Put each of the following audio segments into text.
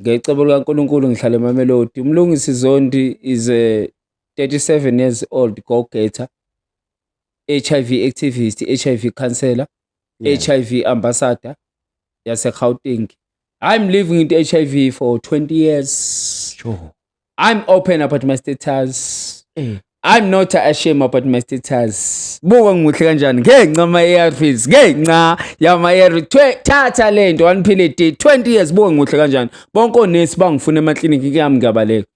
ngecebo likaNkulunkulu ngihlala eMamelodi. UMlungisi Zondi is a 37 years old go-getter, HIV activist, HIV counselor, yeah. HIV ambassador yaseGauteng. I'm living with HIV for 20 years. Sure. I'm open about my status. Eh. I'm not ashamed about my status. Buka ngimuhle kanjani ngenxa ama ARVs, ngenxa yama ARV. Thatha lento waniphile day 20 years buka ngimuhle kanjani. Bonke onesi bangifuna ema clinic kuyami ngiyabaleka.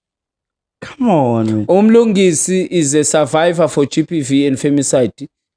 Come on. Umlungisi is a survivor for GBV and femicide.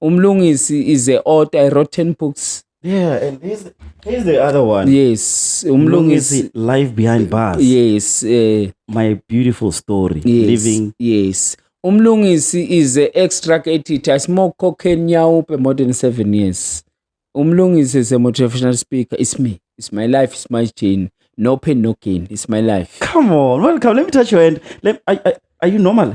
umlungisi is a author a rotten books yeah and he's, he's the other one yes umlungisi Mlungisi, life behind bars yes eh my beautiful story yes living yes umlungisi is a extract editor i smoke cocaine nyawupe more than 7 years umlungisi is a motivational speaker it's me it's my life it's my chain no pain no gain it's my life come on welcome let me touch your hand let I, I, are you normal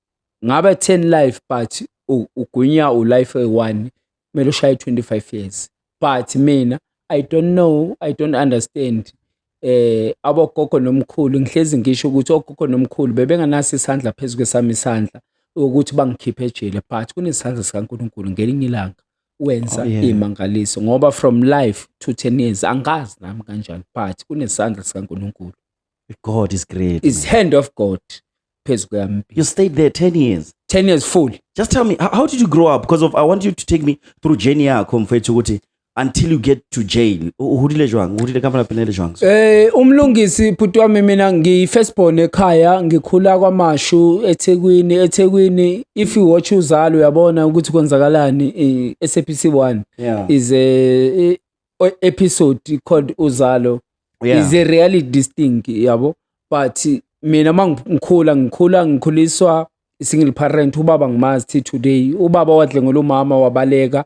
ngabe 10 life but ugwinya ulife eyi-one kumele ushaye 25 years but mina i don't know i don't understand eh abogogo nomkhulu ngihlezi ngisho ukuthi ogogo nomkhulu bebenganaso isandla phezu kwesami isandla ukuthi bangikhiphe ejele but kunesandla sikaNkuluNkulu ngelinye ilanga wenza oh, yeah. imangaliso ngoba from life to 10 years angazi nami kanjani but kunesandla sikaNkuluNkulu God is great. Is hand of God phezu kwami. You stayed there 10 years. 10 years full. Just tell me how, how did you grow up because of I want you to take me through journey yakho mfethu ukuthi until you get to jail. Uhulile jwang, uhulile kama la penele jwang. Eh umlungisi bhuti wami mina ngi first born ekhaya ngikhula kwaMashu eThekwini eThekwini if you watch uzalo uyabona ukuthi kwenzakalani eSAPC 1 yeah. is a o- episode called uzalo Yeah. is a reality this thing yabo but mina uma ngi- ngikhula ngikhula ngikhuliswa single parent ubaba ngimazi till today ubaba wadle ngolomama wabaleka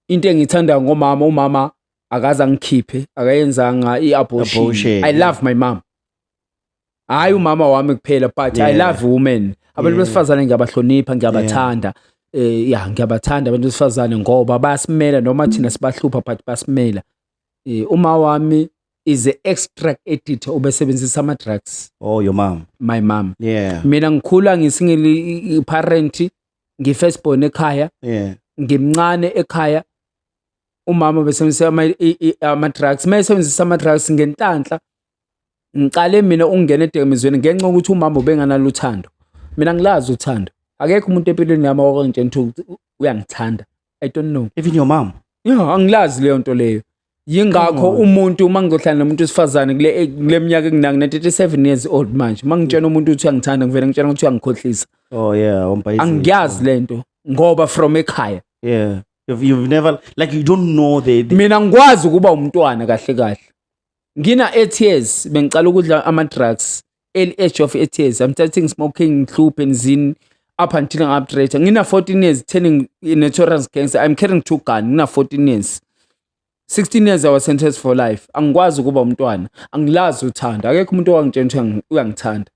into engiyithanda ngomama umama akaze angikhiphe akayenzanga i-abortion Abortion, i yeah. love my mom hayi umama wami kuphela but yeah. i love women abantu yeah. besifazane ngiyabahlonipha ngiyabathanda yeah. eh ya ngiyabathanda abantu besifazane ngoba bayasimela noma thina sibahlupha but basimela eh uma wami is a extract editor obesebenzisa ama drugs oh your mom my mom yeah mina ngikhula ngisingeli parent ngi first born ekhaya yeah ngimncane ekhaya umama besebenzisa ama ama drugs mayesebenzisa ama drugs ngentanhla ngiqale mina ukungena edakamizweni ngenxa yokuthi umama ubenganalo uthando mina ngilazi uthando akekho umuntu empilweni yami owakangitshela ukuthi uyangithanda i don't know even your mom yeah angilazi leyo nto leyo yingakho umuntu uma ngizohlala nomuntu wesifazane kule eh, kule minyaka enginangi 37 years old manje uma ngitshela umuntu ukuthi uyangithanda ngivele ngitshela ukuthi uyangikhohlisa oh yeah umpayisi angiyazi lento ngoba from ekhaya yeah you've, you've never like you don't know the, the... mina ngikwazi ukuba umntwana kahle kahle ngina etears bengicala ukudla ama drugs early age of etears i'm starting smoking ngihluphe ngizini up until I'm update ngina 14 years turning notorious gangster i'm carrying two gun ngina 14 years 16 years I was sentenced for life angikwazi ukuba umntwana angilazi uthanda akekho umuntu owangitshela ukuthi uyangithanda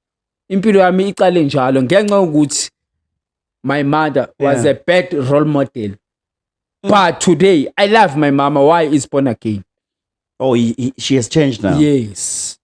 impilo yami iqale njalo ngenxa yokuthi my mother was yeah. a bad role model mm. but today i love my mama why is born again oh he, he, she has changed now yes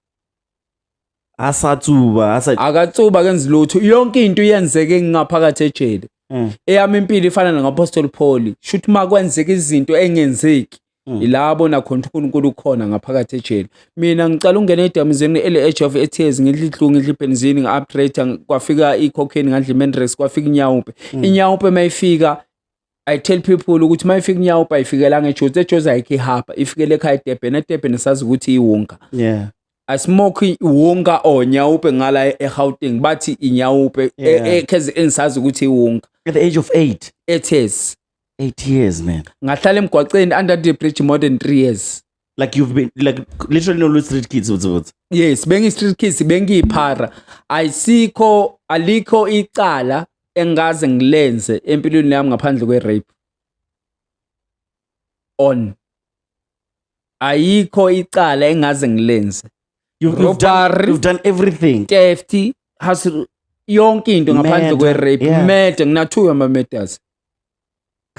asatsuba asa akatsuba kenza lutho yonke into iyenzeke ngaphakathi ejele mm. eyami impilo ifana nangapostoli Paul shuthi makwenzeka izinto engenzeki Mm. ilabo nakhona uNkulunkulu ukhona ngaphakathi ejele mina ngicela ungena edamizini ele edge of tears ngidla idlungu ngidla ibenzini ngi-upgrade kwafika i-cocaine ngadla i-mandrex kwafika inyawupe mm. inyawupe mayifika I tell people ukuthi uma ifika inyawupa ifikela ngejozi ejozi ayikho ihaba ifikele ekhaya edebheni edebheni sazi ukuthi iwunga yeah asimoki iwunga or nyawupe ngala e- eGauteng bathi inyawupe e- Yeah. e- cause engisazi ukuthi iwunga at the age of 8 it is 8 years man ngahlala emgwaqeni under the bridge more than 3 years like you've been like literally no street kids uthi uthi yes bengi street kids bengiyiphara ayisikho alikho icala engaze ngilenze empilweni yami ngaphandle kwe rape on ayikho icala engaze ngilenze you've, you've, done, you've done everything theft has yonke into ngaphandle kwe rape yeah. murder nginathuyo ama murders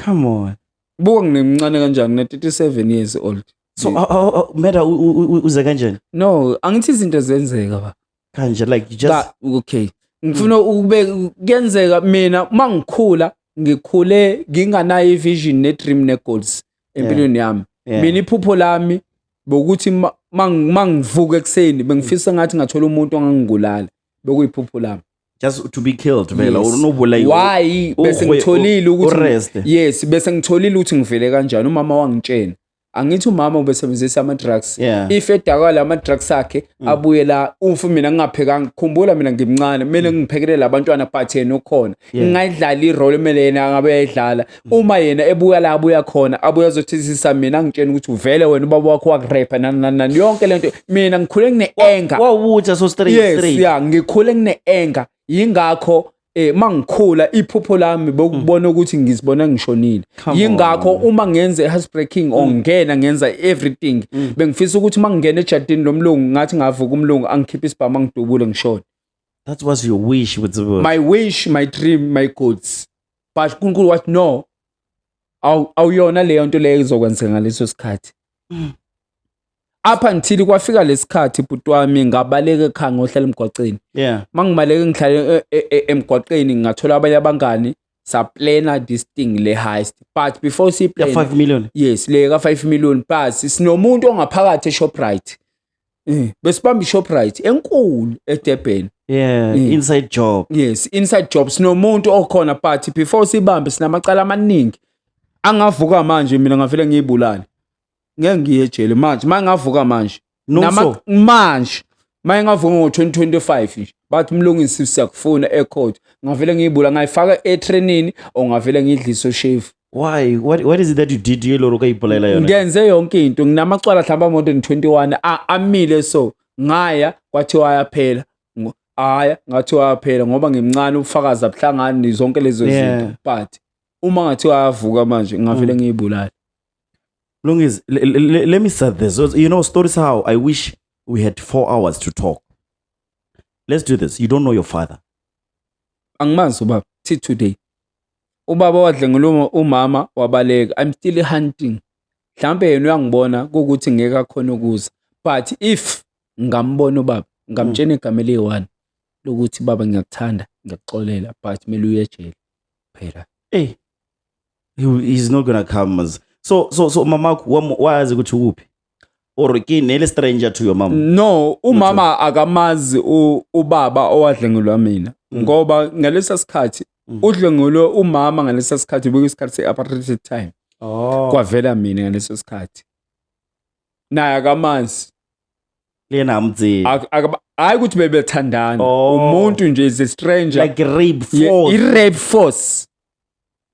come on buka nginemncane kanjani ngine 37 years old so uh, uh, uh, meda u- u- u- uze kanjani no angithi izinto zenzeka ba kanje like you just Ba- okay ngifuna ukube kuyenzeka mina uma ngikhula ngikhule nginganayo i-vision ne-dream ne-goals empilweni yami yeah. mina iphupho lami bokuthi ma- ma- ma ngivuka ekuseni bengifisa ngathi ngathola umuntu ongangibulala bekuyiphupho lami just to be killed vela Yes. or unobulayiwa why bese Urwe- ngitholile ukuthi ureste. yes bese ngitholile ukuthi ngivele kanjani umama wangitshena angithi umama ubesebenzisa ama-drugs Yeah. Mm. if edakala ama-drugs akhe abuye la ufu mina ngingaphekanga khumbula mina ngimncane kumele ngiphekelele abantwana but yena ukhona ngingayidlali irole kumele yena angabe yayidlala uma yena ebuya la abuya khona abuya azothethisa mina ngitshena ukuthi uvele wena ubaba wakho wakurepa nani nani nani yonke lento mina ngikhule ngine anger wawutha so straight yes straight yeah ngikhule ngine anger yingakho eh mangikhula iphupho lami bokubona ukuthi ngizibona ngishonile Come yingakho on. uma ngenza i-house breaking or ngena ngenza everything bengifisa ukuthi uma ngingena ejardini lomlungu ngathi ngavuka umlungu angikhiphe isibhamu angidubule ngishone that was your wish with the my wish my dream my goals but uNkulunkulu wathi no awu awuyona leyo nto leyo izokwenzeka ngaleso sikhathi mm. up until kwafika lesikhathi bhuti wami ngabaleka ekhaya ngohlala emgwaqeni yeah mangibaleke ngihlale e, e, e, emgwaqeni ngathola abanye abangani saplana this thing le heist but before si plan 5 million yes le ka 5 million plus sinomuntu ongaphakathi eShoprite Eh, besibamba iShoprite enkulu eDurban. Yeah, Mm. inside job. Yes, inside job sinomuntu okhona but before sibambe sinamacala amaningi. Angavuka manje mina ngavele ngiyibulale. Ngeke ngiye ejele manje, manje ngavuka manje. Nomso. manje. Manje ngavuka ngo-2025 nje. Bathi mlungisi siyakufuna ecourt. Ngavele ngiyibula ngayifaka etrenini or ngavele ngidlise ushevu. why what, what is it that you did ye loro kayipolaela yona ngenze yonke into nginamacwala hlamba more than 21 amile so ngaya kwathiwa ayaphela haya ngathiwa ayaphela ngoba ngimncane ubufakazi abuhlangani zonke lezo zinto but uma ngathiwa ayavuka manje ngavele mm. ngiyibulala Longis, let me start this. You know, stories how I wish we had four hours to talk. Let's do this. You don't know your father. Angimazi ubaba. Till today. Ubaba wadlenguluma umama wabaleka. I'm still hunting. Mhlawumbe yena uyangibona kuwukuthi ngeke akhona ukuza. But if ngambona ubaba, ngamtshena igama eliyi-one lokuthi baba ngiyakuthanda, ngiyakuxolela but kumele uye ejele phela. Hey. He, he's not gonna come. as- So so so mamakho wam- wazi ukuthi ukuphi? or ke nele stranger to your mom no umama akamazi ubaba owadlengelwa mina mm. ngoba ngalesa sikhathi mm. udlengelwe umama ngalesa sikhathi bekuyisikhathi se-apartheid time oh. kwavela mina ngaleso sikhathi naye akamazi lena amdzi hayi ukuthi bebethandana oh. umuntu nje is a stranger like rape force i rape force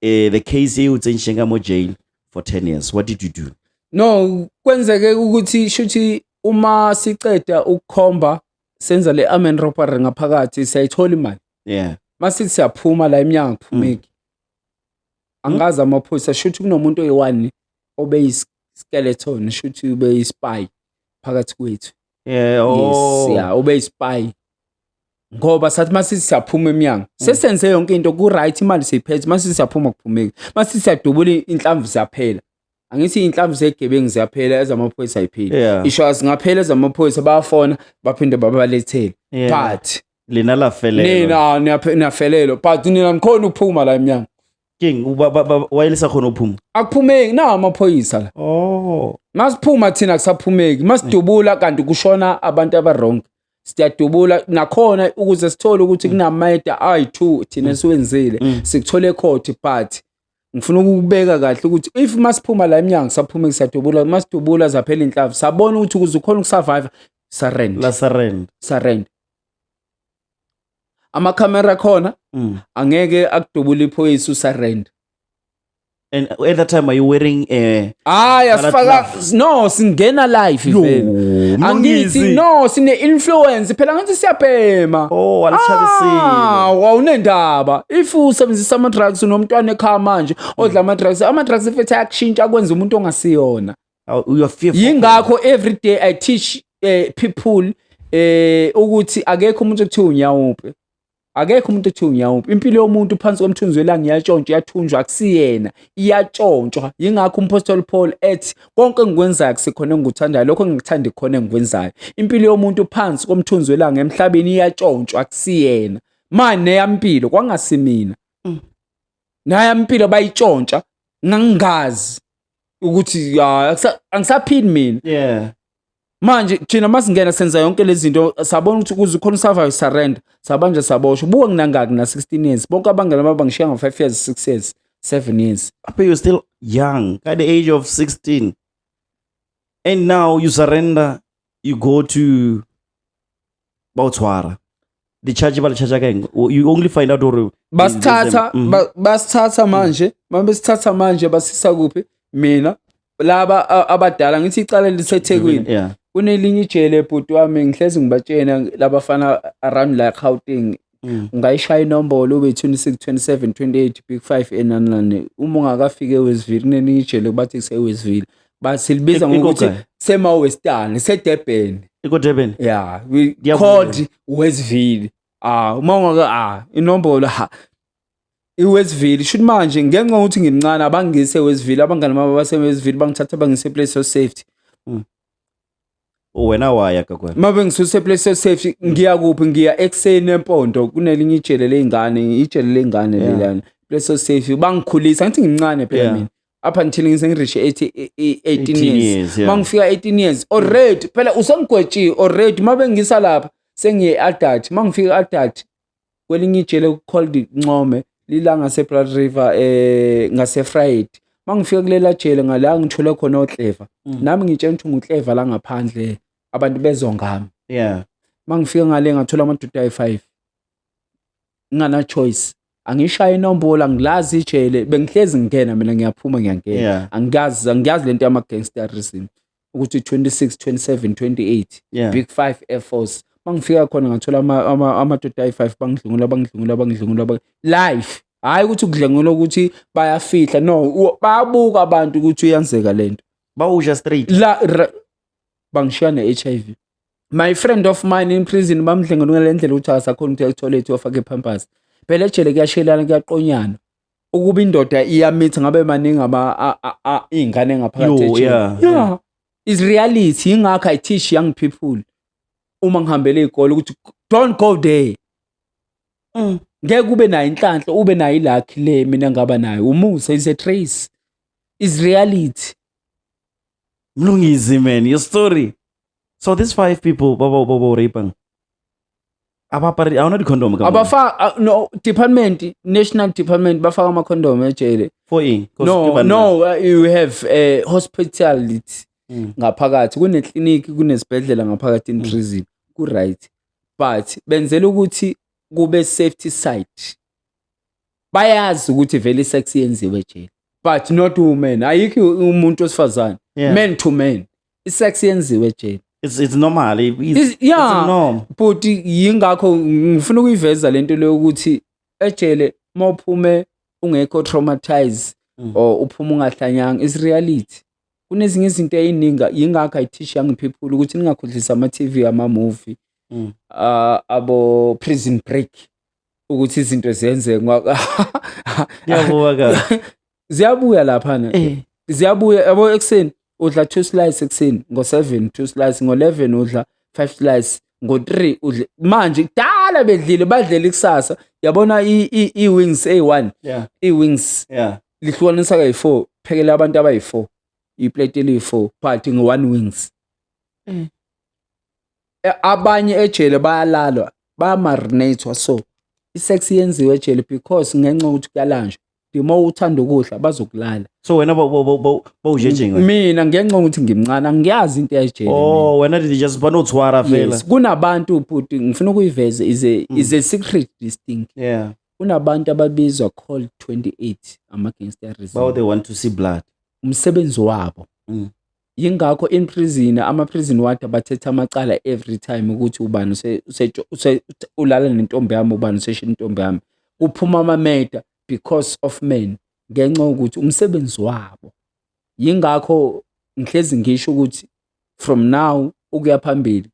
eh the case you tsentshenga mo jail for 10 years what did you do no kwenzeke ukuthi shuthi uma siceda ukukhomba senza le amen robbery ngaphakathi siyayithola imali yeah masithi siyaphuma la eminyango kuphumeki mm. angazi amaphoyisa shuthi kunomuntu oyi-one obeyiskeleton shuthi ubeyispy phakathi kwethu yeah oh yes, yeah ubeyispy ngoba sathi masithi siyaphuma emnyango mm. sesenze yonke into ku-right imali seyiphethe masithi siyaphuma kuphumeki masithi siyadubula inhlamvu ziyaphela angithi inhlamvu zegebengu ziyaphela ezamaphoyisa ayipheli yeah. isho zingaphela ezamaphoyisa bayafona baphinde babalethele yeah. but lina lafelelo nina niyafelelo but nina nikhona ukuphuma la emnyango king wayelisa khona ukuphuma akuphumeki na amaphoyisa la oh masiphuma thina kusaphumeki masidubula kanti kushona abantu abaronke siyadubula nakhona ukuze sithole ukuthi mm. kunamayeda ayi-2 thina mm. siwenzile mm. sikuthole ecourt but ngifuna ukubeka kahle ukuthi if masiphuma la emnyango saphume kusadubula masidubula zaphela inhlavu sabona ukuthi ukuze ukhona ukusurvive surrend la surrend surrend amakhamera khona angeke akudubula iphoyisa usurrend And at that time, are you wearing a? Hayi Colour asifaka gloves. no singena live Yo, vele. mlungisi. Angithi no sine influence phela ngathi siyabhema. Oh, alichabisile. Ah, wawunendaba. If usebenzisa ama drugs unomntwana ekhaya manje odla ama drugs, ama drugs efethu ayakushintsha kwenza umuntu ongasiyona. Oh, You're fearful. Yingakho every day I teach eh, people eh ukuthi akekho umuntu okuthiwa unyawupe. akekho umuntu othi ngiyawuphi impilo yomuntu phansi komthunzi welanga iyatshontshwa iyathunjwa akusiyena iyatshontshwa yingakho umphostoli paul ethi konke engikwenzayo kusekhona engikuthandayo lokho engikuthandi khona engikwenzayo impilo yomuntu phansi komthunzi welanga emhlabeni iyatshontshwa akusiyena manje neyampilo kwangasimina mm. nayampilo bayitshontsha ngangingazi ukuthi angisaphili mina yeah manje thina masingena senza yonke lezi zinto sabona ukuthi kuze khona usurvive surrender sabanje sabosho buka nginangaki na 16 years bonke abangela baba ngishiya ngo 5 years 6 years 7 years aphe you still young at the age of 16 and now you surrender you go to ba o tshwara di-charge ba le charge ka eng O- you only find out gore basithatha Mhm. ba- basithatha manje uma besithatha manje basisa kuphi mina laba a- abadala ngithi icala lisethekwini Yeah. kunelinye ijele bhuti wami ngihlezi ngibatshena labafana around la gauteng Mm. ungayishaya inombolo ube 26 27 28 big 5 enanilane uma ungakafiki ewestville kunelinye ijele kubathi kusewestville but silibiza Iko- ngokuthi Ikoga. semawestani sedebheni ikodebeni ya we Ngiyabonga. called westville ah uma ungaka ah inombolo ha iwestville shuthi manje ngenxa yokuthi ngimncane abangise westville abangani bami basewestville bangithatha bangise place of safety Mm. wena waya gagwe mabe ngisuse place of safety ngiya kuphi ngiya ekuseni empondo kunelinye ijele lezingane ijele lezingane Yeah. lelana place of safety bangikhulisa ngithi ngimncane phela Yeah. mina up until ngise ngirishe 18 e- 18 years years yeah. mangifika 18 years already phela usengigwetshiwe already mabe ngisa lapha sengiye adult mangifika adult kwelinye ijele called Ncome lila ngaseBlood River eh ngaseFriday mangifika kulela jele ngala ngithole khona oClever mm. nami ngitshela ukuthi nguClever la ngaphandle abantu bezongami yeah mangifika ngale ngathola amadoda ayi5 ngana choice angishaye inombolo angilazi ijele bengihlezi ngingena mina ngiyaphuma ngiyangena yeah. angiyazi angiyazi lento yama gangsterism ukuthi 26 27 28 yeah. big 5 air force mangifika khona ngathola amadoda ayi-5 bangidlungula bangidlungula bangidlungula life hhayi ukuthi ukudlengula ukuthi bayafihla no bayabuka abantu ukuthi uyenzeka le nto bawusha straight la bangishiya ne-h i v my friend of mine in prison bamdlengelungela le ndlela ukuthi akasakhona ukuthi ayithole ethi wafake iphampasi phela ejele kuyashelana kuyaqonyana ukuba indoda iyamitha ngabe maningi ama a- a- a- iy'ngane ngaphakathi Yo, ejele. yeah, yeah is reality yingakho i teach young people uma ngihambele iy'kole ukuthi don't go there Mm. ngeke ube nayo inhlanhla ube nayo ilakhi le mina ngaba nayo umusa is a trace is reality Mlungisi man, your story. So these five people baba baba raping. abapari awona di-condom ka mama? abafa a- no department national department bafaka ama-condom ejele for yini 'Cause no kuba no uh, you have a hospitality Mm. ngaphakathi kunekliniki kunesibhedlela ngaphakathi in prison ku-right but benzela ukuthi kube safety site bayazi ukuthi vele isex yenziwe ejele but not women ayikho umuntu wesifazane Yeah. men to men isex yenziwe Jane it's it's normal it's, Is- it's a yeah. norm bhuti yingakho ngifuna ukuyiveza lento leyo ukuthi ejele uma uphume ungekho traumatized Mm. or uphume ungahlanyanga is reality kunezinye izinto eyininga yingakho i teach young people ukuthi ningakhohlisa ama TV ama movie Mm. ah, abo prison break ukuthi izinto zenzeke Ngwa- kuyavuka kahle ziyabuya laphana Eh. ziyabuya yabo ekuseni udla two slice ekuseni ngo-seven two slice ngo-eleven udla five slice ngo-three udle manje kudala bedlile badlela ikusasa yabona i- i- i-wings eyi-one Yeah. i-wings Yeah. lihlukanisa kayi-four phekela abantu abayi-four iplate eliyi-four but ngo-one wings Mm. Eh, abanye ejele bayalalwa bayamarinatwa so isex yenziwe ejele because ngenxa yokuthi kuyalanjwa uma uthanda ukudla bazokulala so wena bowujejenga mina ngenxa ukuthi ngimncane angiyazi into yajele oh wena did just banothwara phela yes kunabantu bhuti ngifuna ukuyiveza is a mm. is a secret this thing yeah kunabantu ababizwa called 28 ama gangsterism bawo they want to see blood umsebenzi wabo mm. Yingakho in prison ama prison ward abathetha amacala every time ukuthi ubani use- use- use- ulala nentombi yami ubani useshela intombi yami. Kuphuma ama murder because of men ngenxa yokuthi umsebenzi wabo. Yingakho ngihlezi ngisho ukuthi from now ukuya phambili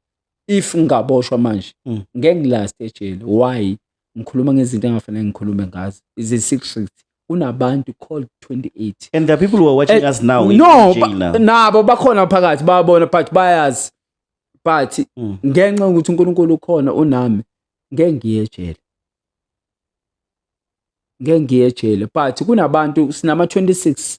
if ngaboshwa manje Mm. ngeke ngilast ejele why ngikhuluma ngezinto engafanele ngikhulume ngazo is a secret kunabantu called 28 and the people who are watching eh, us now no nabo bakhona phakathi babona but bayazi but mm. ngenxa ukuthi uNkulunkulu ukhona unami ngeke ngiyejele ngeke ngiyejele but kunabantu sinama 26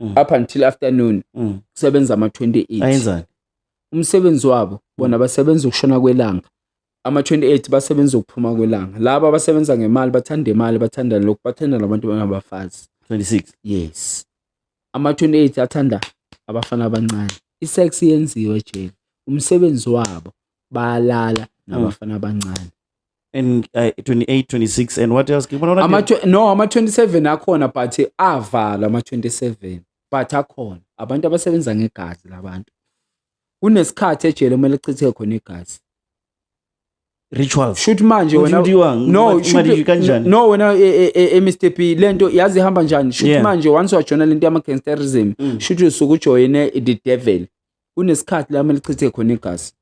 Mm. up until afternoon Mm. kusebenza ama-28 ayenzani umsebenzi wabo bona basebenza ukushona kwelanga ama-28 basebenza ukuphuma kwelanga laba abasebenza ngemali bathanda imali bathanda lokhu bathanda nabantu abangabafazi 26 yes ama-28 athanda abafana abancane i-sex yenziwe jele umsebenzi wabo bayalala nabafana abancane and uh, 28 26 and what else ngibona ama no ama 27 akhona but avala ama 27 but akhona abantu abasebenza ngegazi labantu kunesikhathi ejele uma lichithe khona igazi ritual shoot manje wena no kanjani no wena e, e, e, e Mr P lento yazi ihamba njani shoot yeah. manje once wajona lento yama gangsterism mm. shoot usuku ujoyine the devil kunesikhathi la melichithe khona igazi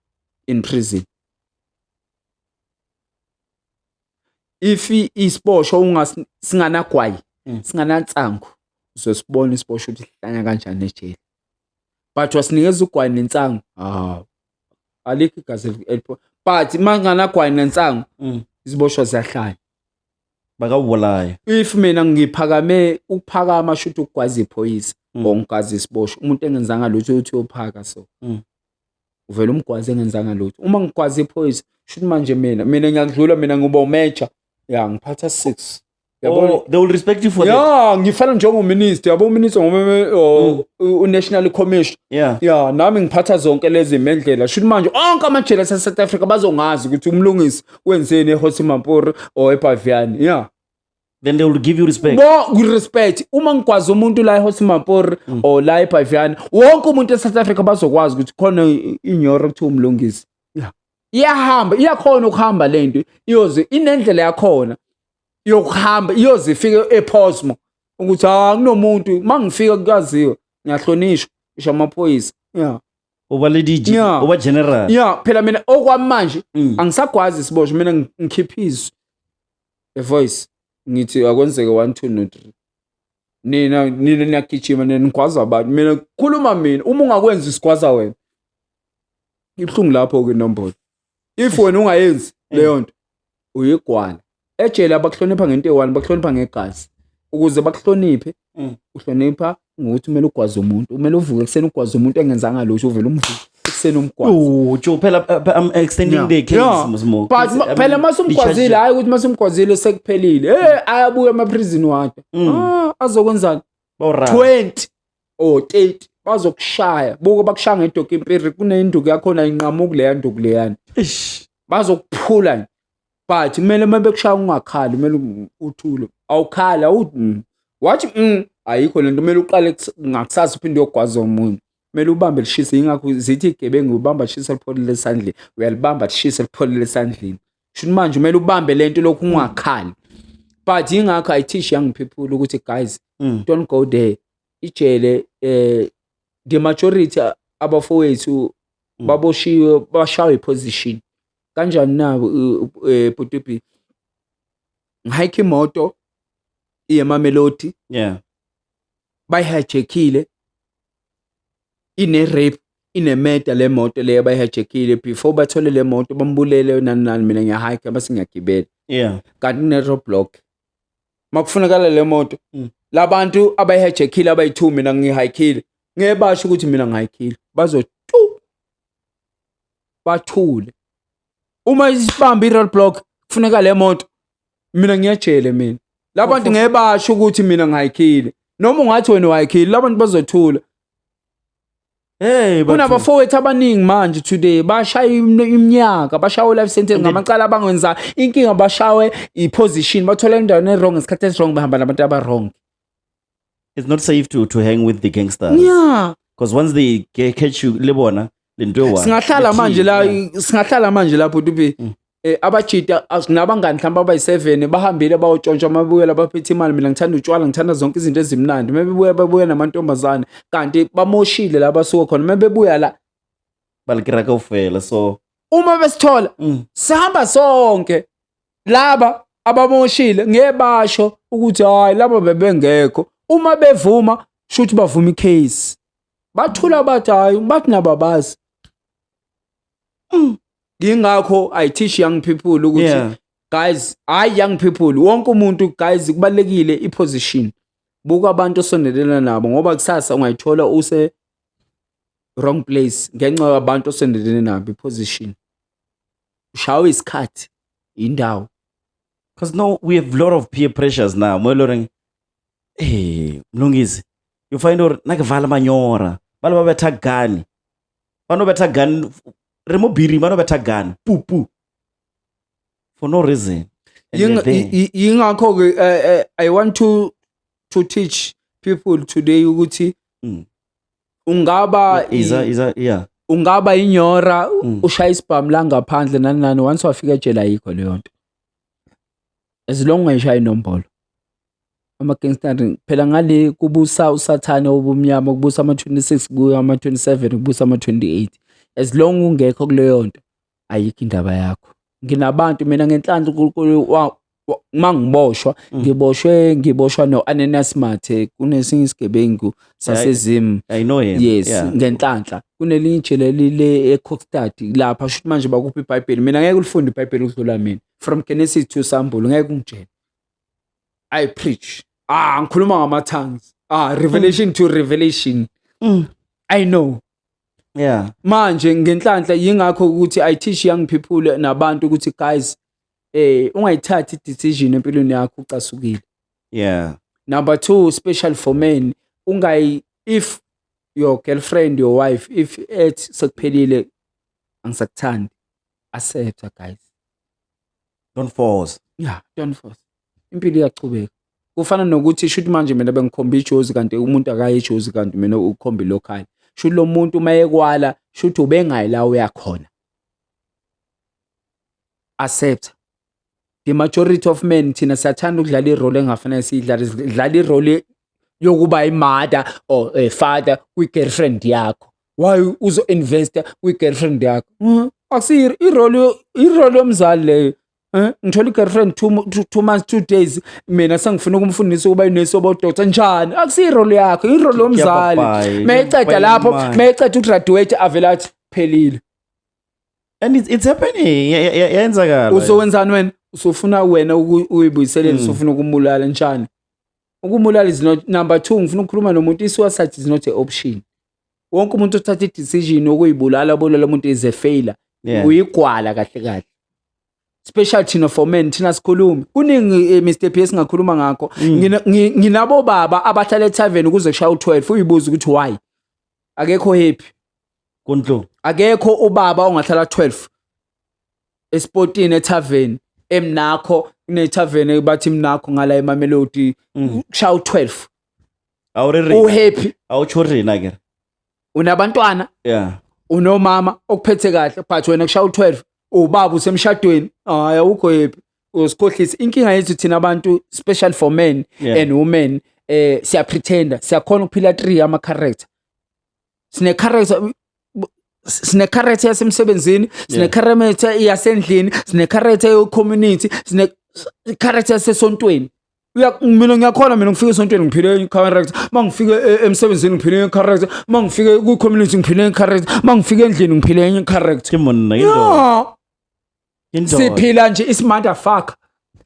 in prison if isibosho ungasinganagwayi mm. singanansangu uzosibona isibosho ukuthi sihlanya kanjani ejele but wasinikeza ugwayi nensangu hawu alikho igazi but uma nganagwayi nensangu mm. iziboshwa ziyahlanya bakawubolayo if mina ngiphakame ukuphakama shuthi ukugwaza iphoyisa mm. or ngigaza isibosho umuntu engenzanga lutho uthi uyophaka so mm. uvele umgwaze engenzanga lutho uma ngigwaze iphoyisa shuthi manje mina mina ngiyakudlula mina ngiba umeja ya ngiphatha six Oh, they will respect you for yeah, that. Yeah, ngifana njengominister yabo uminister ngoba oh, mm. unational commission. Yeah. Yeah, nami ngiphatha zonke lezi mendlela. Shuthi manje onke amajele ase South Africa bazongazi ukuthi umlungisi wenzeni eHosi Mampuru or eBaviani. Yeah. then they will give you respect no respect uma ngikwazi umuntu la eHosi Mapor mm. or la eBhaviana wonke umuntu eSouth Africa bazokwazi ukuthi khona inyoro kuthiwa umlungisi yeah iyahamba iyakhona ukuhamba lento iyoze inendlela yakhona yokuhamba iyoze ifike ePosmo ukuthi ha ah, kunomuntu mangifika kukaziwe ngiyahlonishwa isho amaphoyisa yeah uba le DG yeah. uba general yeah phela mina okwamanje mm. angisagwazi siboshwe mina ngikhipha izwi The Voice ngithi akwenzeke one two no three nina nina niyagijima nina nigwaza abantu mina khuluma mina uma ungakwenzi sigwaza wena ibuhlungu lapho ke inombolo if wena ungayenzi leyo nto uyigwala ejele abakuhlonipha ngento eyi-one bakuhlonipha ngegazi ukuze bakuhloniphe Mm. uhlonipha ngokuthi kumele ugwaze umuntu kumele uvuke ekuseni ugwaze umuntu engenzanga lutho uvele umvuke ekuseni umgwaze Ooh, Joe, phela uh, I'm extending Yeah. the case Yeah. Mzimo. but Please, ma- I phela mean, masumgwazile i-charge- hayi ukuthi masumgwazile sekuphelile eh ayabuya emaprizini wakhe Mm. ah azokwenzani Bawurara. 20 or 30 bazokushaya buke bakushaya ngedoki impiri kunenduku yakhona inqamuku leya nduku leyana Eish. bazokuphula nje but kumele uma bekushaya ungakhali kumele uthule awukhali awuthi mm. wathi mm, ayikho lento kumele uqale ngakusasa uphinde uyogwaza omunye kumele ubambe lishise yingakho zithi igebengu ubamba lishisa lipholile esandleni uyalibamba lishise lipholile esandleni shuni manje kumele ubambe lento lokhu ungakhali but yingakho i teach young people ukuthi guys mm. don't go there ijele eh the majority abafowethu mm. baboshiwe bashawe position Kanjani na bhuti uBee? Ngihike imoto iye eMamelodi. Yeah. Bayihijackile. Ine rape, ine murder le moto le bayihijackile before bathole le moto bambulele nani nani mina ngiyahike base ngiyagibela. Yeah. Kanti kune roadblock. Makufunakala le moto. Mm. Labantu abayihijackile abayithu mina ngihikile. Ngeke basho ukuthi mina ngihikile. Bazo bathule uma isibamba i-road block kufuneka le moto mina ngiyajele mina labantu ngeke basho ukuthi mina ngayikhile noma ungathi wena wayikhile labantu bazothula Hey kunabafowethu abaningi manje today bashaya iminyaka bashawe life sentence ngamacala abangenza inkinga bashawe iposition bathola indawo ne wrong ngesikhathi esi wrong behamba nabantu aba wrong it's not safe to to hang with the gangsters yeah because once they ca- catch you libona lento ewa singahlala manje la singahlala manje lapho tupi Mm. eh abajita as- nabangani mhlawumbe abayi-7 bahambile bayotshontsha uma bebuyela baphethe imali mina ngithanda utshwala ngithanda zonke izinto ezimnandi uma bebuya babuya namantombazane kanti bamoshile la basuke khona uma bebuya la balikira kaufela so uma besithola mm. sihamba sonke laba abamoshile ngeke basho ukuthi hayi laba bebengekho uma bevuma shuthi bavuma icase bathula bathi hayi bathi nababazi mm. ngingakho i teach young people ukuthi yeah. guys hayi young people wonke umuntu guys kubalekile iposition buka abantu osondelena nabo ngoba kusasa ungayithola use wrong place ngenxa yabantu osondelene nabo iposition ushawe isikhathi indawo because no we have lot of peer pressures now mweloreng eh mlungisi you find or nakuvala manyora bale babetha gani banobetha gani remobiri banobetha gani pupu for no reason yingakho-ke eh, eh, i want to to teach people today ukuthi mm. ungaba iza iza yeah ungaba inyora mm. ushaya isibhamu la ngaphandle nani nani once wafika ejele ayikho leyo nto as long ungayishaya inombolo ama-gangster phela ngale kubusa usathane obumnyama kubusa ama-26 kuya ama-27 kubusa ama-28 as long ungekho kuleyo nto ayikho indaba yakho nginabantu mina ngenhlanhla uNkulunkulu uma ngiboshwa mm. ngiboshwe ngiboshwa no-anenas mathe kunesinye isigebengu sasezimu yes ngenhlanhla kunelinye ijele lile ecockstad lapha shuthi manje bakuphi ibhayibheli mina ngeke ulifunde ibhayibheli ukudlula mina from genesis to sambulo ngeke ungitshele i preach ah ngikhuluma ngama-tongues ah revelation mm. to revelation mm. i know yeah manje ngenhlanhla yingakho ukuthi i teach young people nabantu ukuthi guys eh ungayithathi decision empilweni yakho ucasukile yeah number 2 special for men ungayi if your girlfriend your wife if ethi sekuphelile angisakuthandi Accepta guys. Don't force. Yeah, don't force. Impilo iyachubeka. Kufana nokuthi shuthi manje mina bengikhomba ijozi kanti umuntu akaye ijozi kanti mina ukhomba ilokhali. Shuthi lo muntu uma ekwala shuthi ubengayi la uyakhona. Accepta. The majority of men thina siyathanda ukudlala irole engafanele siyidlale sidlala irole yokuba imada or a father kwi-girlfriend yakho why uzo-investa kwi-girlfriend yakho mm-hmm. akusiyo irole yomzali leyo eh, ngithola i-girlfriend two months two days mina sengifuna ukumfundisa ukuba inesobo doctor njani akusiyo irole yakho irole yomzali mayeceda lapho mayeceda ugraduate avele athi phelile and it's, it's happening yenzakala uzowenzani wena usufuna wena uyibuyiselele hmm. usufuna ukumulala njani ukumulala is not number two ngifuna ukukhuluma nomuntu i-suicide is not a option wonke umuntu othatha i-decision okuyibulala obulala umuntu is a failure Yeah. uyigwala kahle kahle special thina for men thina sikhulumi kuningi eh, Mr P esingakhuluma ngakho Mm. Ngina- ngi- nginabo baba abahlala etavern kuze kushaya u12 uyibuza ukuthi why akekho happy Kunhlungu. akekho ubaba ongahlala 12 esportini etavern emnakho kunetavern bathi mnakho ngala eMamelodi Mm. kushaya u12 awurerina uhappy awutsho rina ke unabantwana yeah unomama okuphethe kahle but wena kushaya u12 ubaba usemshadweni hayi awukho happy usikhohlisa inkinga yethu thina abantu special for men Yeah. and women eh siya pretender siyakhona ukuphila 3 ama character sine character sine character yasemsebenzini sine Yeah. character yasendlini sine character yo community sine character yasesontweni mina ngiyakhona mina ngifike esontweni ngiphile incorrect uma ngifike e, emsebenzini ngiphile incorrect uma ngifike kwi-community ngiphile incorrect uma ngifike endlini ngiphile incorrect siphila nje isimotherfucker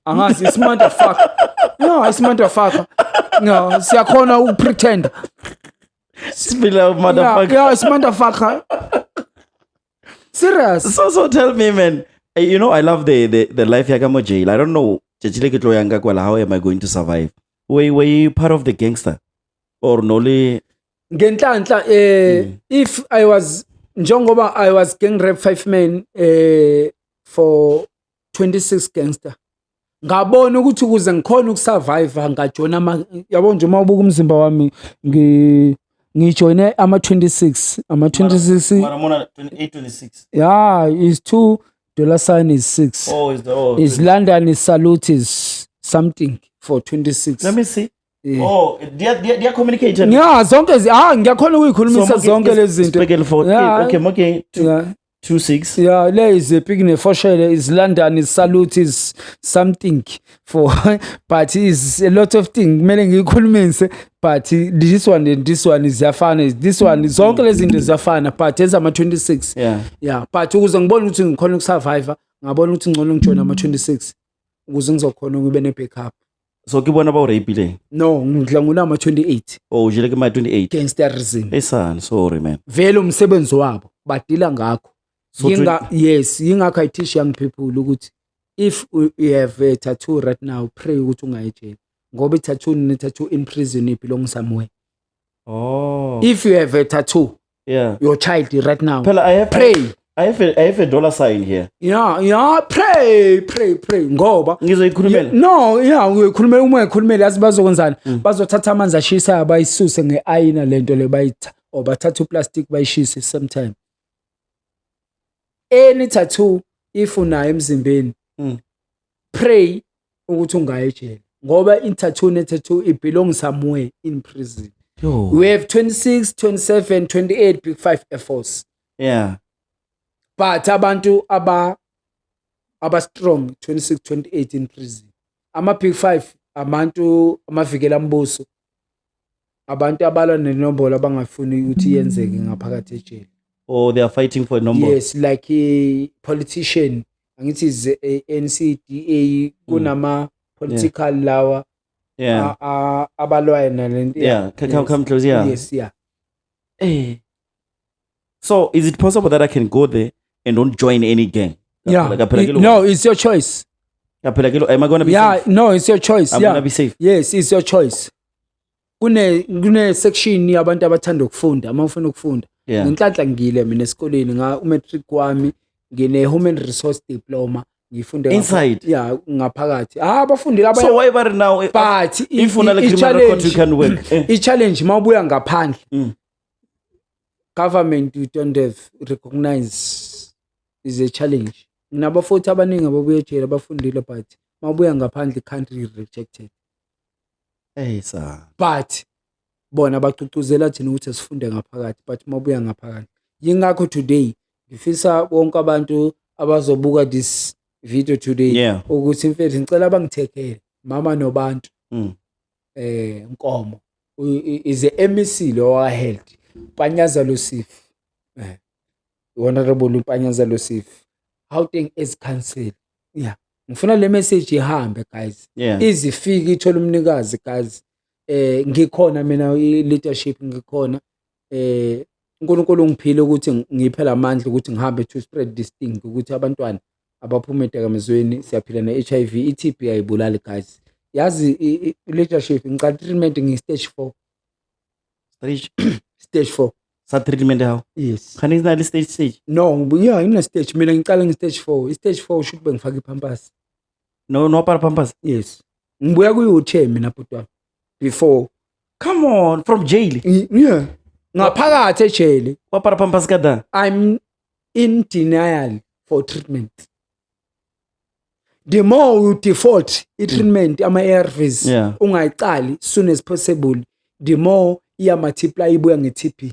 angazi isimotherfucker no isimotherfucker no siyakhona ukupretenda siphila umotherfucker yeah, yeah isimotherfucker serious so so tell me man eh, you know i love the the, the life yaka mo jail i don't know tšatši le ke tlo yang ka kwala how am i going to survive were, were you part of the gangster or no le ngenhlanhla eh mm. if i was njengoba i was gang rap five men eh for 26 gangster ngabona ukuthi ukuze ngikhona ukusurvive ngajona ama yabo nje uma ubuka umzimba wami ngi ngijoyine ama 26 ama 26 Maramona 28 26 yeah is 2 dollar sign is 6 oh is the oh, is London is salute is something for 26 let me see Yeah. Oh, dia dia dia communicate. Yeah, zonke ah ngiyakhona ukuyikhulumisa zonke lezi zinto. Yeah. Okay, okay. Yeah. 26 ya le iziphi kunefoshele is London is salute is something for but is a lot of thing kumele ngiyikhulumise but this one and this one ziyafana this one zonke lezi zinto ziyafana but ezama 26 yeah yeah but ukuze ngibone ukuthi ngikhona ukusurvivor ngabona ukuthi ngcono ngijoin ama 26 ukuze ngizokhona ukube ne backup so ke bona ba o rapileng no ngidla ngunama 28 o jile ke ma 28 gangsterism esan sorry man vele umsebenzi wabo badila ngakho so yinga yes yingakho i teach young people ukuthi if you have a tattoo right now pray ukuthi ungaye jail ngoba i-tattoo ne-tattoo in prison it belongs somewhere oh if you have a tattoo Yeah. your child right now. Phela I have Pray. I have a, I have a dollar sign here. Yeah, yeah, pray, pray, pray ngoba Ngizoyikhulumela. no ya uyokhulumela uma ekhulumela yazi bazokwenzani Mm. bazothatha amanzi ashisayo bayisuse nge-ayina le nto le bayitha or bathathe uplastic bayishise same time any tattoo if unayo emzimbeni Mm. pray ukuthi ungayi ejele ngoba i-tattoo ne-tattoo it belongs somewhere in prison Yo. we have 26 27 28 big five air force yeah but abantu aba aba strong 26 28 in prison ama big five amantu amavikela mbuso abantu abalwa nenombolo abangafuni ukuthi yenzeke ngaphakathi ejele or they are fighting for a number yes like a politician angithi is a NCDA kunama mm. political yeah. lawa yeah abalwayo nalento yeah come come close yeah yes yeah eh So is it possible that I can go there and don't join any gang? Yeah. Kaphela- kaphela It- kilo- no, it's your choice. kaphela kilo- am I gonna be Yeah, safe? no, it's your choice. I'm yeah. gonna be safe. Yes, it's your choice. Kune kune section yabantu abathanda ukufunda, uma ufuna ukufunda. Yeah. Ngenhlanhla ngile mina esikoleni nga umatric wami ngine human resource diploma ngifunde ngapha- Inside? Yeah, ngaphakathi. Ah, abafundile abanye So why bari now? eh, But i- if una i- le i- criminal record, you challenge- can work. Eh. i-challenge mawubuya ngaphandle Mm. government you don't have recognize is a challenge nginabafowethu abaningi ababuya ejele abafundile but mabuya ngaphandle country rejected Ey sa. but bona bacucuzela thina ukuthi sifunde ngaphakathi but mabuya ngaphakathi yingakho today ngifisa bonke abantu abazobuka this video today Yeah. ukuthi mfethu ngicela bangithekele mama nobantu Mm. eh nkomo is a MEC lo wa health panyaza losif eh honorable panyaza losif Gauteng as council yeah ngifuna le message ihambe guys yeah. izifike ithola umnikazi guys eh ngikhona mina leadership ngikhona uNkulunkulu ungiphile ukuthi ngiphe la mandla ukuthi ngihambe to spread this thing ukuthi abantwana abaphume edakamizweni siyaphila ne-H_I_V i-T_B ayibulali guys yazi i-leadership ngicala treatment ngi-stage four stage stage four sa-treatment yawo yes khani nginali stage stage no ya ngine-stage mina ngiqale ngi-stage four i-stage four usho ukuthi bengifake iphampasi no no para pampers yes ngibuya kuyi uthe mina bhuti wami before come on from jail Ngi- yeah ngaphakathi ejele wa para pampers ka da i'm in denial for treatment the more you default i-treatment ama-arvs Yeah. ungayicali soon as possible the more iya-multiply ibuya nge-tb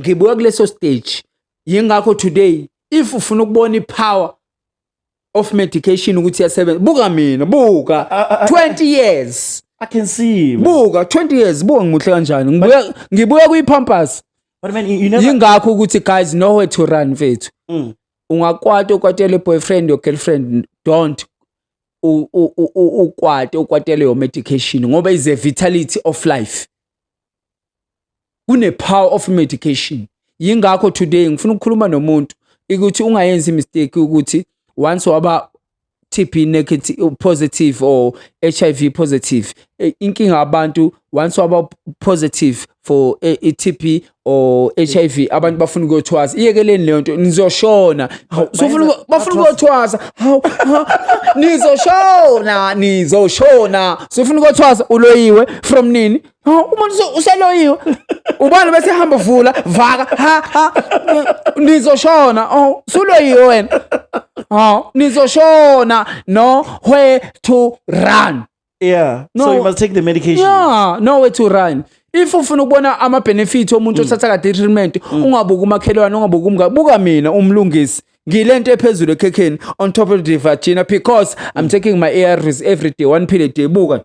ngibuya kuleso stage yingakho today if ufuna ukubona ipower of medication ukuthi yasebenza buka mina buka 20 years i can see buka 20 years buka ngimuhle kanjani ngibuya ngibuya kuyipampers but man you never yingakho ukuthi guys nowhere to run mfethu mm. ungakwata ukwatele boyfriend or girlfriend don't ukwate ukwatele your medication ngoba is a vitality of life kune power of medication yingakho today ngifuna ukukhuluma nomuntu ukuthi ungayenzi mistake ukuthi once waba TB negative positive or HIV positive eh, inkinga abantu once waba positive for eh, iTB or HIV abantu bafuna ukuyothwasa iyekeleni leyo nto nizoshona sofuna bafuna ukuyothwasa haw nizoshona nizoshona sofuna ukuyothwasa uloyiwe from nini Oh, umuntu useloyiwe ubani bese hamba vula vaka ha ha nizoshona oh suloyiwe wena oh nizoshona no where to run yeah no, so you must take the medication yeah no way to run if ufuna ukubona ama benefit omuntu mm. othatha kade treatment mm. ungabuka umakhelwane ungabuka umngane buka mina umlungisi ngilento ephezulu ekhekheni on top of the vagina because i'm mm. taking my ARVs every day one pill a day buka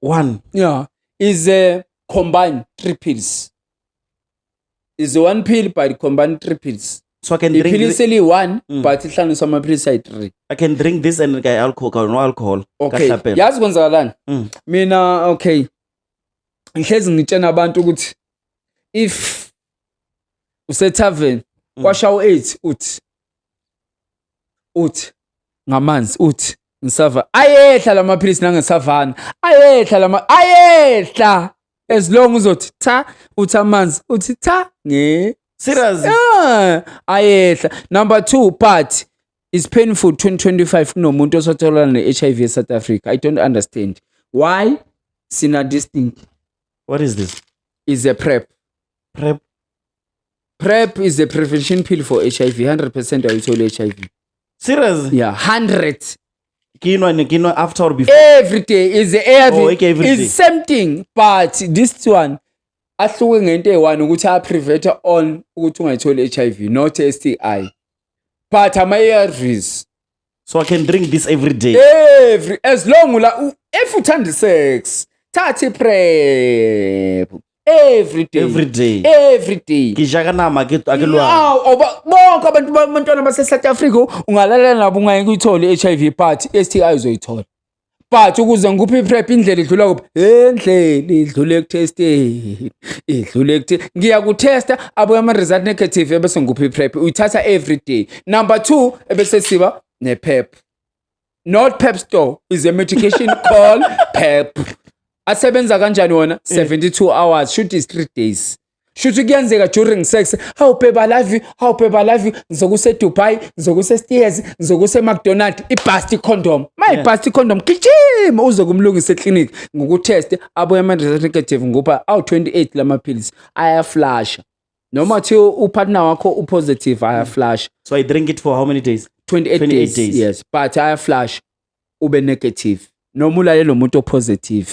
one yeah is a combined three pills is one pill but combined three pills so i can drink iphilisi eliyi-one Mm. but ihlanganiswa amaphilisi ayi-three i can drink this and ka alcohol ka no alcohol okay Kahlapela. yazi kwenzakalani Mm. mina okay ngihlezi ngitshena abantu ukuthi if usetavern Mm. kwashawo eight uthi uthi ngamanzi uthi ngisava ayehla lamaphilisi nangesavana ayehla lama ayehla as long uzothi cha uthi amanzi uthi cha nge serious yeah. ayehla number 2 but is painful 2025 kunomuntu osatholana ne-hiv e-south africa i don't understand why sina this thing what is this is a prep prep PrEP is a prevention pill for HIV 100% awuyitholi HIV Serious? yeah 100 Kinwa ni kinwa after or before. every day is the ARV Oh, okay, every is day. same thing but this one ahluke ngento eyi-one ukuthi a-preventer on ukuthi ungayitholi HIV not STI but ama-ARVs so i can drink this every day every as long ula u- if uthanda isex thatha iprep every day every day every day ke ja ka nama ke a ke lwana Awu, awuba- bonke abantu ba- abantwana base-south africa ungalala nabo ungayeke uyithole i-h i v but i-s t i uzoyithola but ukuze ngikuphe iprep indlela idlula kuphi endlela idlule ekutesteni idlule ekuthe ngiyakutesta abuye ama-result negative ebese ngikuphe iprep uyithatha every day number two ebese siba nepep not pep store is a medication called pep asebenza kanjani wona 72 eh. hours shoot is 3 days shuthi kuyenzeka during sex hawu babe i love you hawu babe i love you ngizokuse eDubai ngizokuse eSteers ngizokuse eMcDonald ibust condom my yeah. bust condom gijima uze kumlungisa eclinic ngokutest abuye ama result negative ngoba awu 28 lamaphilisi ayaflasha noma thi upartner wakho upositive ayaflasha so i drink it for how many days 28, 28 days, days yes but ayaflasha ube negative noma ulalele umuntu opositive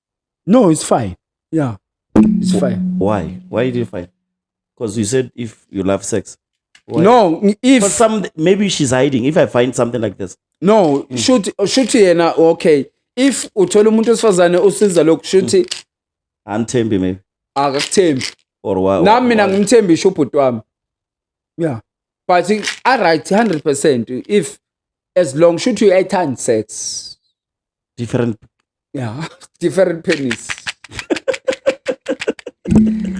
No, it's fine. Yeah, it's fine. Why? Why did you fight? Because you said if you love sex. Why? No, But if some maybe she's hiding. If I find something like this, no, shuthi shuthi yena okay. If uthola umuntu wesifazane usiza lokhu shuthi untembi maybe akakuthembi. or why? Nami mina why? ngimthembi isho ubhuti wami. Yeah. But i- I right 100% if as long shuthi uyayithanda sex. different yeah different penis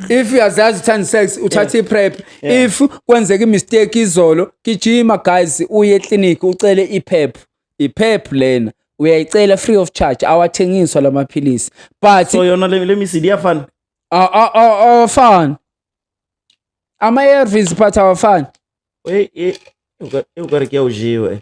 if uyazazi uthanda sex uthatha yeah. iprep yeah. if kwenzeka imistake izolo gijima guys uye eclinic ucele iprep iprep lena uyayicela free of charge awathengiswa lamaphilisi but so yona le misidi iyafana awafani ama-arvs but awafani ukare kuyawujiwe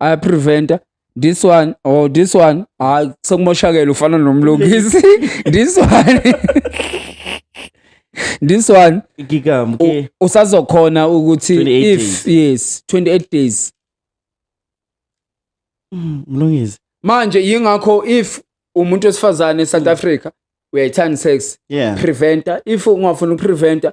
aya preventer this one or oh, this one hayi ah, sekumoshakele ufana nomlungisi this one this one ngikam ke usazokhona ukuthi if yes 28 days mm, mlungisi manje yingakho if umuntu wesifazane eSouth mm. Africa uyayithanda sex yeah. preventer if ungafuna ukupreventer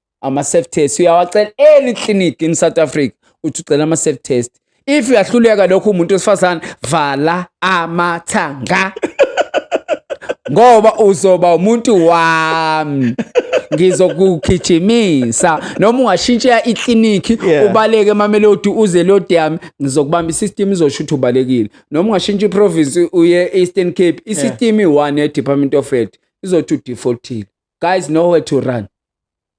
ama-self test uyawacela any clinic in south africa uthi ucela ama-self test if uyahluleka lokho umuntu wesifazane vala amathanga ngoba uzoba umuntu wami ngizokugijimisa noma ungashintshela iklinikhi yeah. ubaleke emamelodi uze lodi yami ngizokubamba isystem izosho ukuthi ubalekile noma ungashintsha iprovince uye eastern cape isystem yeah. i-one ye-department of health izothi udefaultile guys nowhere to run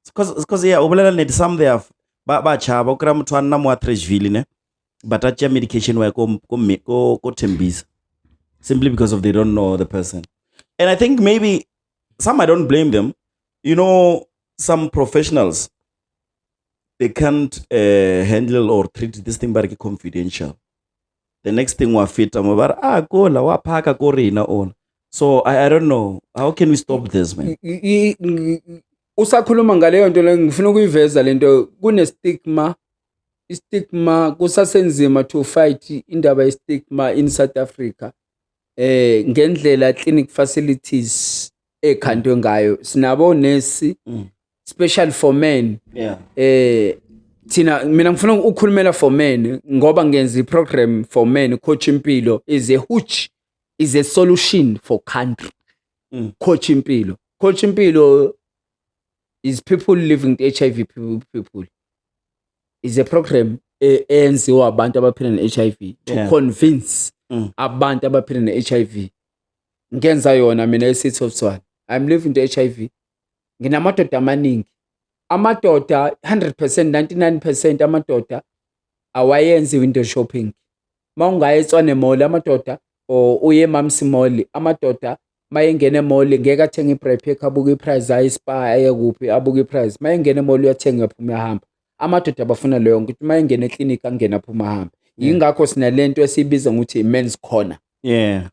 because yeah ubulela nedi some they have ba ba chaba ukira muthu anna mu atrashville ne but atya medication waye ko ko ko ko tembisa simply because of they don't know the person and i think maybe some i don't blame them you know some professionals they can't uh, handle or treat this thing but confidential the next thing wa fita mo ba re ah kola wa phaka ko rena ona so I, i don't know how can we stop this man I- i- i- i- usakhuluma ngaleyo nto leyo ngifuna ukuyiveza le nto kune-stigma i-stigma kusasenzima to fight indaba ye-stigma in south africa eh ngendlela clinic facilities ekhandwe ngayo sinabo nesi Mm. special for men yeah eh thina mina ngifuna ukukhulumela for men ngoba ngenza iprogram for men coach impilo is a huge is a solution for country mm. coach impilo coach impilo is people living with hiv people is a program e, eyenziwa abantu abaphila ne-hiv to yeah. convince mm. abantu abaphila ne-hiv ngenza yona mina e-city of tswana i'm living the hiv nginamadoda amaningi amadoda 100% 99% amadoda awayenzi window shopping mawungaya etswane mall amadoda or uye mamsi mall amadoda mayengena emall ngeke athenge ibrepek abuke iprice aye spa aye kuphi abuke iprice mayengena emall uyathenga phuma uyahamba amadoda abafuna leyo nto ukuthi mayengena eclinic angena phuma ahamba yingakho sinalento esibiza ngokuthi men's corner yeah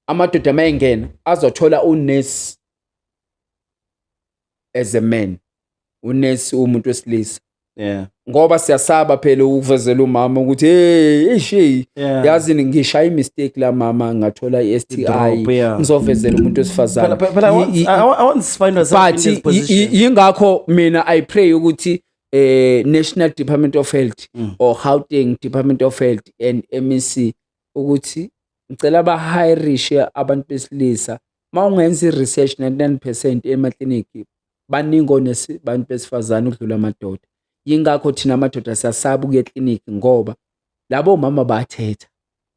amadoda mayengena azothola unurse as a man unesi umuntu wesilisa yeah ngoba siyasaba phela ukuvezela umama ukuthi hey ishi yeah. yazi ngishaya imistake la mama ngathola iSTI yeah. ngizovezela umuntu wesifazane yingakho mina i pray ukuthi eh National Department of Health mm. or Gauteng Department of Health and MEC ukuthi ngicela bahirishe abantu besilisa uma ungenza i-research 99 percent emaklinikhi baningi onebantu besifazane ukudlula amadoda yingakho thina amadoda siyasaba ukuya eklinikhi ngoba labo mama bathetha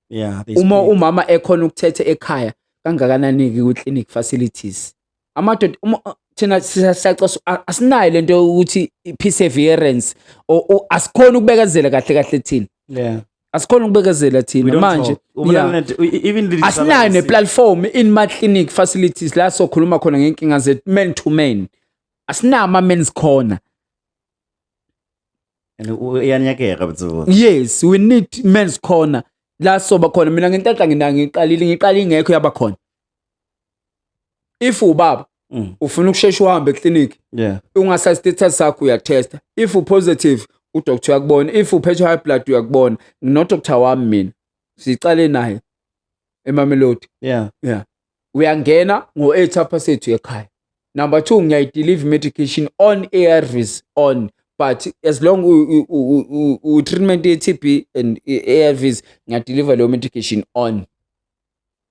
yeah, uma umama ekhona ukuthetha ekhaya kangakanani-ke kwi-clinic facilities amadoda thina siyacosa asinayo le nto yokuthi i-perseverance asikhoni ukubekezela kahle kahle thina yeah. asikhona ukubekezela thina manje asinayo neplatform in my clinic facilities la sokhuluma khona ngenkinga zethu men to men asinama ama men's corner iyanyakeka butho yes we need men's corner la soba khona mina ngentatha nginayo ngiqalile ngiqala ingekho yaba khona if ubaba mm. ufuna ukushesha uhambe eclinic yeah. ungasa status sakho uyatesta if upositive udoctor uyakubona if uphethwe high blood uyakubona nginodoctor wami mina siqale naye emamelodi yeah. yeah. uyangena ngo-eight apha sethu ekhaya number two ngiyayidelive medication on arvs on but as long u-treatment ye-tb and arvs ngiyadeliver leyo medication on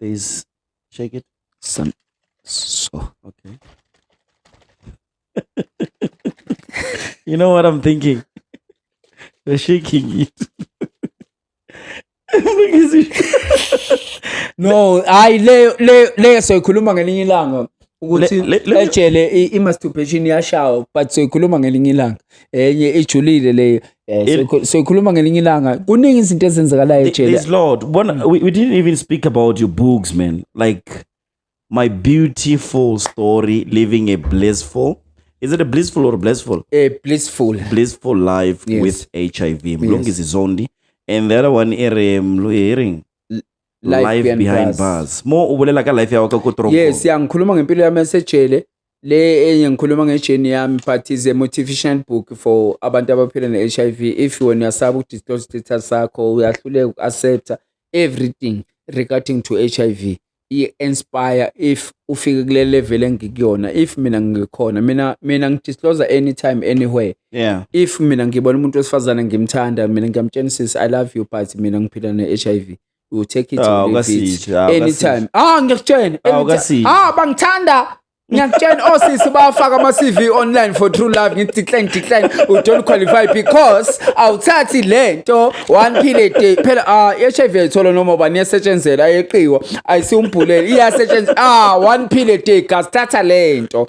Please shake it. Some, so. Okay. you know what I'm thinking? They're shaking it. no hayi leyo leyo leyo soyikhuluma ngelinye ilanga ukuthi Le- le- le- ejele i- i-masturbation iyashawa but soyikhuluma ngelinye ilanga enye ijulile leyo Eh, Il- soyikhu- soyikhuluma ngelinye ilanga kuningi izinto ezenzakalayo ejele There's Lord. One, we, we didn't even speak about your books, man. Like my beautiful story, living a blissful. Is it a blissful or blissful? Eh, blissful Blissful life Yes. with HIV. Mlungisi Zondi. And the other one, Ere Mlu Herring. life, life behind, behind bars. bars mo u bolela ka life ya ka ko trongo yes ya ngikhuluma ngempilo yami esejele le enye ngikhuluma ngejeni yami but is a motivational book for abantu abaphila ne-hiv if wena uyasaba uku-disclose status sakho uyahluleka uku-accepta everything regarding to hiv i-inspire if ufike kule level engikuyona if mina ngikhona mina mina ngidisclosa anytime anywhere yeah if mina ngibona umuntu wesifazane ngimthanda mina ngiyamtshena sis i love you but mina ngiphila ne-hiv you take it or Ah, leave it. ukasithe, ah, anytime ah ngiyakutshena Ah, anytime. ukasithe. ah bangithanda ngiyakutshena osisi bawafaka ama-cv online for true love ngithi decline decline u don't qualify because awuthathi le nto one pill a day phela ah i-hiv ayithola noma ubani iyasetshenzela ayeqiwa ayisiwumbhulele iyasetshenzela ah one pill a day guys thatha le nto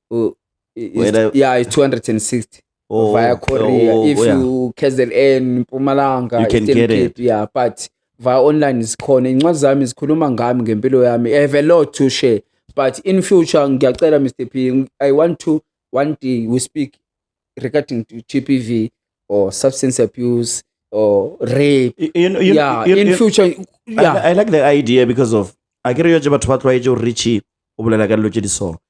Oh, it's- Whether- yeah, it's 260 or- via Korea. or- if oh, yeah. you KZN, Mpumalanga, You can Eastern get it. Cape, yeah, but via online zikhona. Incwadi zami zikhuluma ngami ngempilo yami. I have a lot to share. But in future ngiyacela Mr. P, I want to one day we speak regarding to GPV or substance abuse or rape. You- you know- you- yeah, you- in you- future I, yeah. I like the idea because of akere yo tse batho ba tlwaetse gore re che o bolela ka dilo tse di so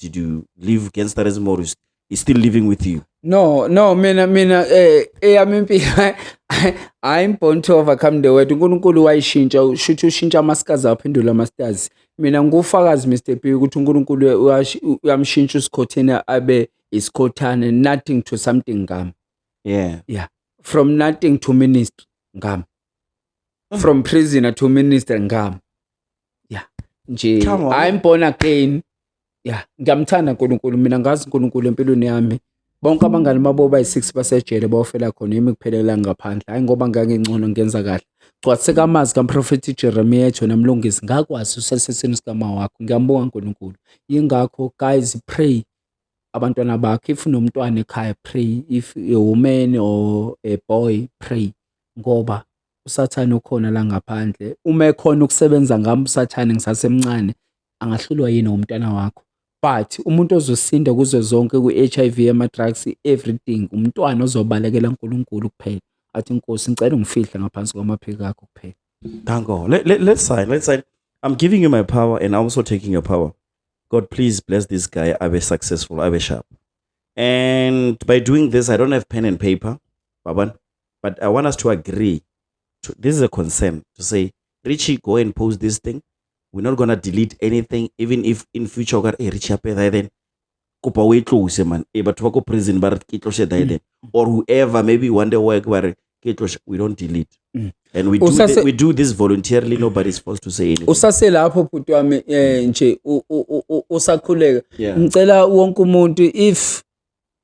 did you leave gangsterism or is is still living with you no no mina mina eh eyami impilo i'm born to overcome the world uNkulunkulu wayishintsha ushuthi ushintsha amasikazi aphendula amasters mina ngufakazi Mr P ukuthi uNkulunkulu uyamshintsha usikhotheni abe isikhothane nothing to something ngam yeah yeah from nothing to ministry ngam from prisoner to minister ngam ya nje Chamo. i'm born again ya ngiyamthanda unkulunkulu mina ngazi unkulunkulu empilweni yami bonke abangani babo bayi-six basejele bawofela khona yimi kuphelelanga ngaphandle hhayi ngoba ngangingcono ngenza kahle gcwatheka amazi kamprofethi jeremiya ethi wena mlungisi ngakwazi usesesini sikama wakho ngiyambonga unkulunkulu yingakho guys pray abantwana bakho if nomntwana ekhaya pray if a woman or a boy pray ngoba usathane ukhona la ngaphandle. Uma ekhona ukusebenza ngami usathane ngisasemncane, angahlulwa yini umntwana wakho? But umuntu ozosinda kuzo zonke kwi-H_I_V, ama-drugs, everything, umntwana ozobalekela uNkulunkulu kuphela. Athi, Nkosi, ngicela ungifihle ngaphansi kwamaphiko akho kuphela. Thank God. Let, let, let's sign. Let's sign. I'm giving you my power and I'm also taking your power. God, please bless this guy. I be successful. I be sharp. And by doing this, I don't have pen and paper. Baban, but i want us to agree to, this is a concern to say richie go and post this thing we're not gonna delete anything even if in future ukare hey, richie apeda then kopa o e tlose man e batho ba ko prison ba re ke tlose da then mm. or whoever maybe one day work ba re ke tlose we don't delete mm. and we do, Usase, the, we do this voluntarily nobody's supposed to say anything usase lapho bhuti wami eh nje usakhuleka ngicela wonke umuntu if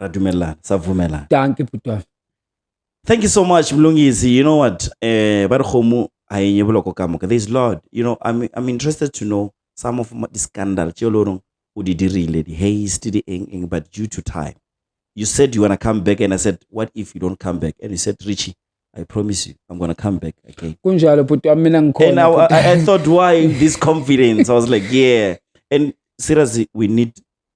ra dumelelana sa vumelana danke butwa thank you so much mlungisi you know what eh ba re gomo a enye boloko ka moka there's lord you know i'm i'm interested to know some of the scandal tse lo rong o di dirile di haste di eng eng but due to time you said you want to come back and i said what if you don't come back and you said richie I promise you, I'm gonna come back again. Kunjalo bhuti wami mina ngikhona. And I, I, I thought why this confidence? I was like, yeah. And seriously, we need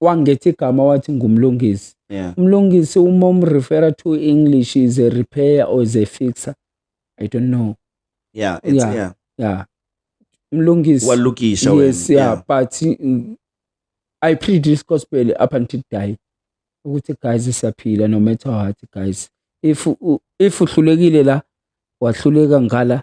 wangetha igama wathi ngumlungisi yeah. umlungisi uma umrefera to english is a repair or is a fixer i don't know yeah, it's, yeah. yeah. yeah. mlungisi walukisha yes yeah, yeah. but mm, i preach this gospel up until die ukuthi guys siyaphila no matter what guys if if uhlulekile la wahluleka ngala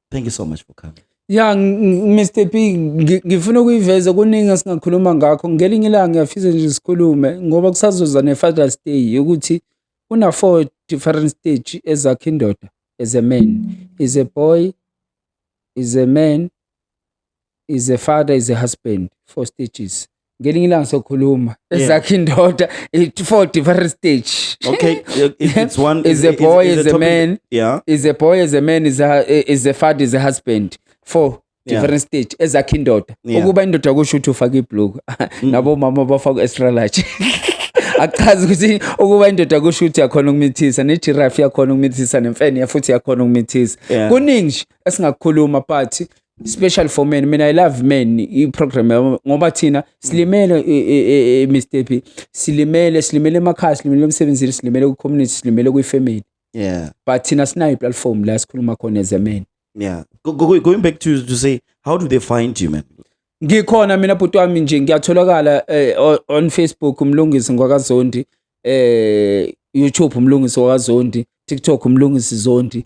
thank you so much for coming ya Mr P ngifuna ukuyiveza kuningi esingakhuluma ngakho ngelinye ilanga ngiyafisa nje sikhulume ngoba kusazoza ne-father's day yokuthi una-four different stage ezakhe indoda as a man is a boy is a man is a father is a husband four stages ngelinye ilanga sokhuluma Yeah. ezakhe indoda it four different stage Okay, it- it's one Is a boy, is a topic- man. Yeah. is a boy is a man is a, is a father is a husband four Yeah. different stage ezakhe indoda Yeah. Mm. ukuba indoda kusho ukuthi ufake ibhluku nabo mama bafaka extra large akuchazi ukuthi ukuba indoda kusho ukuthi yakhona ukumithisa nejiraffe yakhona ukumithisa nemfene futhi yakhona ukumithisa Yeah. kuningi nje esingakukhuluma but special for men mina i love men iprogram ngoba thina silimele e, e, e, Mr P silimele silimele emakhaya silimele emsebenzini silimele ku community silimele kwi family yeah but thina sinayo platform la sikhuluma khona as a man yeah go, go, going back to to say how do they find you man ngikhona mina bhuti wami nje ngiyatholakala eh, on Facebook umlungisi ngwakazondi eh YouTube umlungisi wakazondi TikTok umlungisi zondi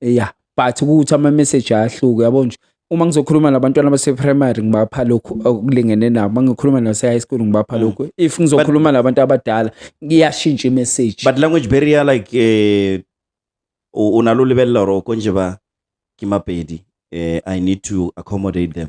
ya but ukuthi ama message ayahluke yabo nje uma ngizokhuluma nabantwana base primary ngibapha lokhu okulingene nabo mangikhuluma nase high school ngibapha mm. lokhu if ngizokhuluma nabantu abadala ngiyashintsha message but language barrier like eh unalo lebella ro konje ba kimapedi eh i need to accommodate them